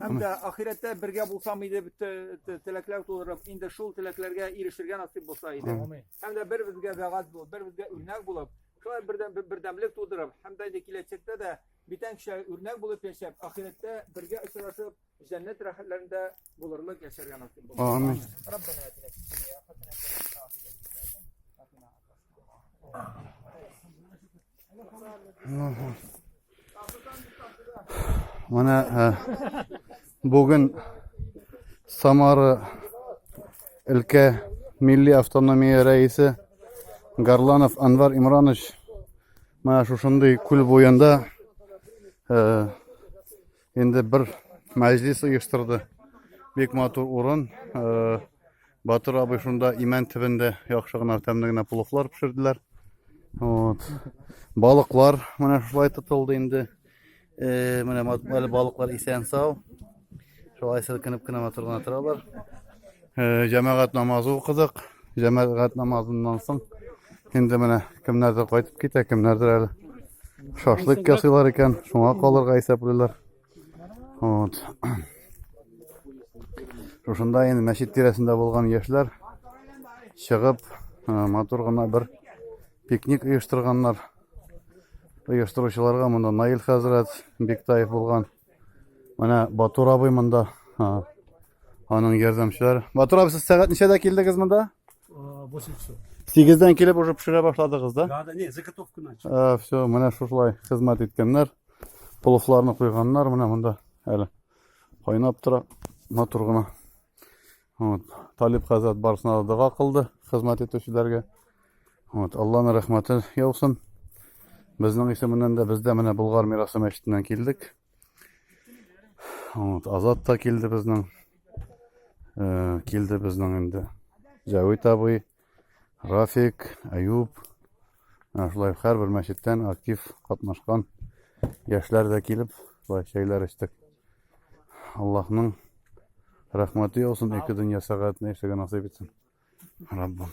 Һәм дә ахирәттә бергә булсам иде бит теләкләр тудырып, инде шул теләкләргә ирешергә насыйп булса иде. Һәм дә бер-безгә вәгазь булып, бер-безгә үрнәк булып, шулай бердәм бердәмлек тудырып, һәм дә инде киләчәктә дә битән кешегә үрнәк булып яшәп, ахирәттә бергә очрашып, җәннәт рәхәтләрендә булырлык яшәргә насыйп булсын. Амин. Раббана атина фид дөнья хасанатан ва фил ахирати хасанатан ва кина азаб. Менә ә, бүген Самара өлкә милли автономия рәисе Гарланов Анвар Имранович менә шушындый күл буенда ә, Инде бер мәҗлис оештырды. Бик матур урын. Э, Батыр абый шунда имән төбендә яхшы гына тәмле генә пулыклар пешерделәр. Вот. Балыклар менә шулай тотылды инде. Э, менә әле балыклар исән сау. Шулай селкенеп кенә матур гына торалар. Э, җәмәгать намазы укыдык. Җәмәгать намазыннан соң инде менә кемнәрдер кайтып китә, кемнәрдер әле шашлык ясыйлар икән, шуңа калырга исәплиләр. Вот. Шушында инде мәчет тирәсендә булган яшьләр чыгып, э, матур гына бер пикник оештырганнар. Оештыручыларга монда Наил хәзрәт Биктаев булган. Менә Батур абый монда. Аның ярдәмчеләре. Батур абый, сез сәгать ничәдә килдегез монда? 8 часов. 8-дән килеп уже пешерә башладыгыз, да? Да, да, не, заготовку начал. А, все, менә шушылай хезмәт иткәннәр. Пловларны куйганнар менә монда әле. Кайнап тора матур гына. Вот. Талип хәзрәт барысына да дога кылды хезмәт итүчеләргә. Вот. Алланың рәхмәте яусын. Безнең исеменнән дә без дә менә Болгар мирасы мәчетеннән килдек. Вот. Азат та килде безнең. Э, килде безнең инде. Җәвит абый, Рафик, Әюп, шулай һәрбер мәчеттән актив катнашкан яшьләр дә килеп, шулай чәйләр эчтек. Аллаһның рәхмәте яусын, ике дөнья сәгатенә эшләгән насыйп итсен. Раббым.